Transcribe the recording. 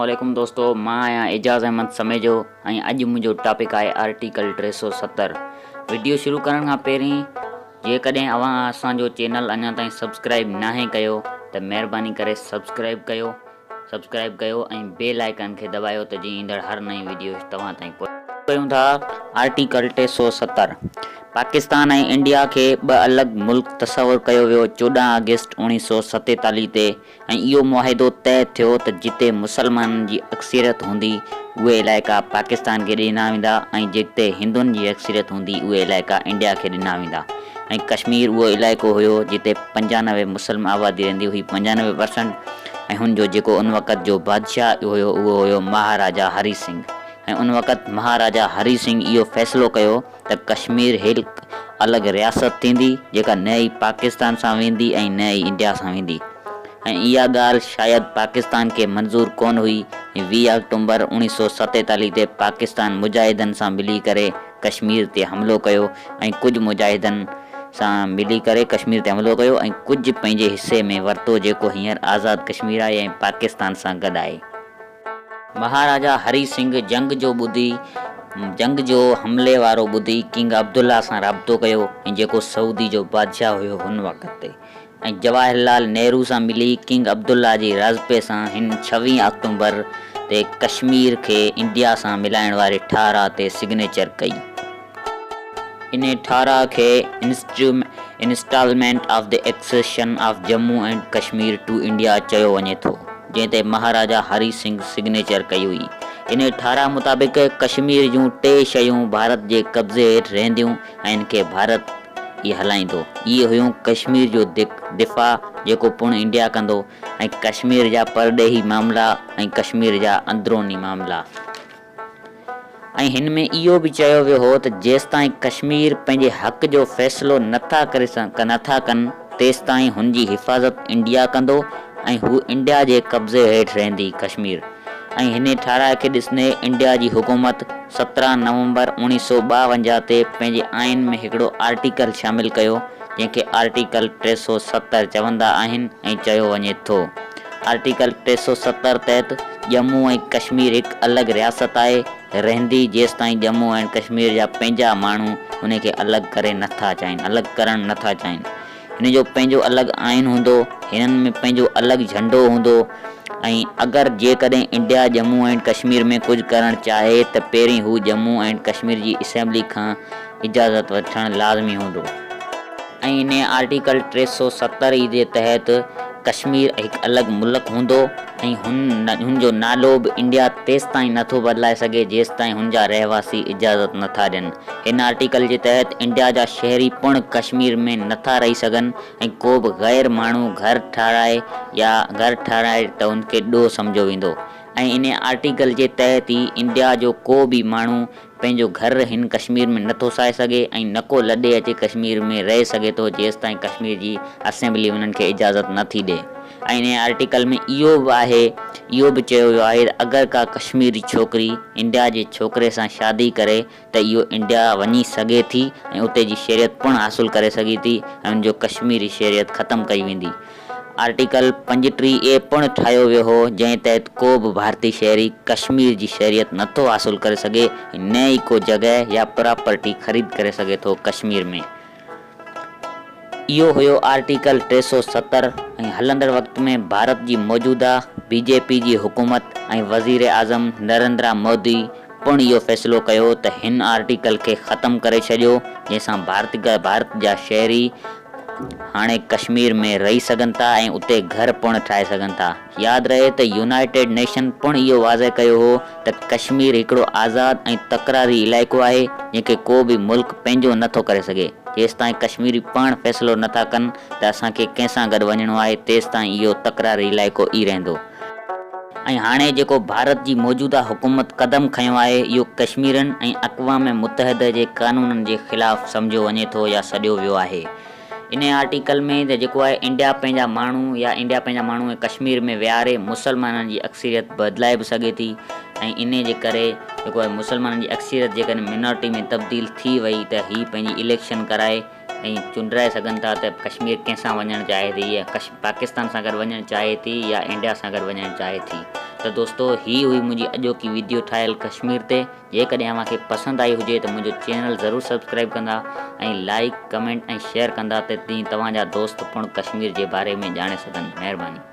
اسلام عليڪم دوستو مان آهيان اعجاز احمد سميجو ۽ اڄ منهنجو ٽاپڪ آهي آرٽيڪل ٽي سو ستر وڊيو شروع ڪرڻ کان پهرين جيڪڏهن اوهان اسان جو چينل اڃا تائين سبسڪرائب ناهي ڪيو ته مهرباني ڪري سبسڪرائب ڪيو سبسڪرائب ڪيو ۽ بيل آئيڪان کي دٻايو ته جيئن ايندڙ هر نئين وڊيو توهان تائين پهچي ڪيون ٿا آرٽيڪل ٽي سؤ ستر پاڪستان ۽ انڊيا کي ٻه الڳ ملڪ تصور ڪيو ويو چوڏهن آگسٽ اوڻيهه سؤ ستيتاليهه تي ۽ اهو معاهدو طئه ٿيو ته جتي مسلمانن جي اڪثريت هوندي اهي علائقا پاڪستان کي ڏنا ويندا ۽ جتي هندن جي اڪثريت هوندي اهي علائقا انڊيا کي ڏنا ويندا ۽ ڪشمير اهو علائقو هيو جتي پنجانوي مسلم آبادي رهندي هئي پنجانوي پرسنٽ ۽ هن جو جيڪو ان وقت جو بادشاهه هيو اهو هيو مهاراجا هري سنگهه ۽ ان وقت مهاراجا هري سنگهه اهو فيصلو ڪيو ته ڪشمير هڪ الڳ رياست ٿيندي جيڪا نه ئي پاڪستان سان ويندي ۽ نه ئي انڊيا سان ويندي ۽ اها ڳالهه شايد پاڪستان کي منظور ڪونه هئي ۽ ويهه آڪٽومبر اوڻيهه سؤ ستيتاليهه تي پاڪستان مجاهدن سان ملي ڪري ڪشمير تي حملو ڪيو ۽ ڪجهه مجاهدن سان ملي ڪري ڪشمير تي حملو ڪيو ۽ ڪجهه پنهنجي حصي ۾ ورتو جيڪو هينئر آزاد ڪشمير آهي ۽ پاڪستان سان گڏ آهي. مهاراجا هري سنگهه جنگ جو ٻڌي جنگ جو حملي وارو ٻڌي ڪنگ عبدالله سان رابطو ڪيو ۽ جيڪو سعودي جو بادشاهه هيو هن وقت تي ۽ جواهر لال نهرو سان ملي ڪنگ عبدالله جي راضپي سان هن ڇويهه آڪٽومبر تي ڪشمير کي انڊيا سان ملائڻ واري ٺهراء تي سگنيچر ڪئي. انهي ٺهراء کي instalment of the accession of Jammu and Kashmir to India چيو وڃي ٿو، جنهن تي مهاراجا هري سنگهه سگنيچر ڪئي هئي. انهي ٺهراء مطابق ڪشمير جون ٽي شيون ڀارت جي قبضي هيٺ رهنديون، ۽ ان کي ڀارت ئي هلائيندو. اهي هيون ڪشمير جو دفاع جيڪو پڻ انڊيا ڪندو ۽ ڪشمير جا پرڏيهي معاملا ۽ ڪشمير جا اندروني معاملا ۽ هن ۾ اهو به چيو ويو هو ته جيستائين ڪشمير پنهنجي حق جو فيصلو نٿا ڪري نٿا ڪن تيستائين هن جي حفاظت انڊيا ڪندو ۽ هو انڊيا جي قبضي هيٺ رهندي ڪشمير ۽ هن ٺهراء کي ڏسندي انڊيا جي حڪومت سترهن نومبر اوڻيهه سؤ ٻاونجاهه تي پنهنجي آئين ۾ هڪڙو آرٽيڪل شامل ڪيو جنهن کي آرٽيڪل ٽي سؤ ستر چوندا آهن ۽ چيو وڃي ٿو آرٽيڪل ٽي سؤ ستر تحت ڄمون ۽ ڪشمير هڪ الڳ رياست آهي رهندي جيستائين ڄمون ۽ ڪشمير جا پنهنجا ماڻهو ان کي الڳ ڪري نٿا چاهين الڳ ڪرڻ نٿا چاهين هن جو پنهنجو الڳ آئين هوندو، هنن ۾ پنهنجو الڳ جهنڊو هوندو ۽ اگر جيڪڏهن انڊيا ڄمون اينڊ ڪشمير ۾ ڪجهه ڪرڻ چاهي ته پهرين هو ڄمون اينڊ ڪشمير جي اسيمبلي کان اجازت وٺڻ لازمي هوندو. ۽ انهيء آرٽيڪل ٽي سؤ ستر اي جي تحت ڪشمير هڪ الڳ ملڪ هوندو ۽ هن جو نالو به انڊيا تيستائين نه ٿو بدلائي سگهي جيستائين هن جا رهواسي اجازت نه ٿا ڏين. هن آرٽيڪل جي تحت انڊيا جا شهري پڻ ڪشمير ۾ نه ٿا رهي سگهن ۽ ڪو به غير ماڻهو گهر ٺهرائي يا گهر ٺهرائي ته ان کي ڏوهه سمجهيو ويندو ۽ انهي آرٽيڪل جي تحت ئي انڊيا جو ڪو به ماڻهو پنهنجو گهر هن ڪشمير ۾ نه ٿو ساهي سگهي ۽ نه ڪو لڏي اچي ڪشمير ۾ رهي سگهي ٿو جيستائين ڪشمير جي اسيمبلي انهن کي اجازت نه ٿي ڏئي ۽ انهي آرٽيڪل ۾ اهو به آهي اهو به چيو ويو آهي ته اگر ڪا ڪشميري ڇوڪري انڊيا جي ڇوڪري سان شادي ڪري ته اهو انڊيا وڃي سگهي ٿي ۽ اتي جي شهريت پڻ حاصل ڪري سگهي ٿي ۽ ان جو ڪشميري شهريت ختم ڪئي ويندي آرٽيڪل پنجٽيهه اي پڻ ٺاهيو ويو هو، جنهن تحت ڪو به ڀارتي شهري ڪشمير جي شهريت نه ٿو حاصل ڪري سگهي ۽ نه ئي ڪو جڳهه يا پراپرٽي خريد ڪري سگهي ٿو ڪشمير ۾. اهو هيو آرٽيڪل ٽي سؤ ستر ۽ هلندڙ وقت ۾ ڀارت جي موجوده بي جي پي جي حڪومت ۽ وزيراعظم نريندرا مودي، پڻ اهو فيصلو ڪيو ته هن آرٽيڪل کي ختم ڪري ڇڏيو جنهن سان ڀارت جا شهري هاڻي ڪشمير ۾ رهي سگهن ٿا ۽ اتي گهر پڻ ٺاهي سگهن ٿا. ياد رهي ته يونائيٽيڊ نيشن پڻ اهو واضح ڪيو هو ته ڪشمير هڪڙو آزاد ۽ تڪراري علائقو آهي جنهن کي ڪو به ملڪ پنهنجو نه ٿو ڪري سگهي جيستائين ڪشميري پاڻ فيصلو نه ٿا ڪن ته اسان کي ڪنهن سان گڏ وڃڻو آهي تيستائين اهو تڪراري علائقو ئي رهندو. ۽ هاڻي جيڪو ڀارت جي موجوده حڪومت قدم کنيو آهي اهو ڪشميرين ۽ اقوام متحده جي قانونن جي خلاف سمجهيو وڃي ٿو يا سڏيو ويو آهي انهي آرٽيڪل ۾ ته جيڪو آهي انڊيا پنهنجا ماڻهو يا انڊيا پنهنجا ماڻهو ۽ ڪشمير ۾ ويهاري مسلمانن جي اڪثريت بدلائي به سگهي ٿي ۽ انهي جي ڪري جيڪو آهي مسلمانن جي اڪثريت جيڪڏهن مينارٽي ۾ تبديل ٿي وئي ته هي پنهنجي اليڪشن ڪرائي ۽ چونڊرائي سگهن ٿا ته ڪشمير ڪنهن سان وڃڻ چاهي ٿي يا پاڪستان سان گڏ وڃڻ چاهي ٿي يا انڊيا سان گڏ وڃڻ چاهي ٿي ته دوستو هي هئي منهنجي اڄوڪي ويڊيو ٺاهيل ڪشمير تي جيڪڏهن اوهان کي پسند آئي هجي ته منهنجو چينل ضرور سبسڪرائب ڪندا ۽ لائڪ ڪمينٽ ۽ شيئر ڪندا ته جيئن توهان جا دوست پڻ ڪشمير جي باري ۾ ڄاڻي سگهن مهرباني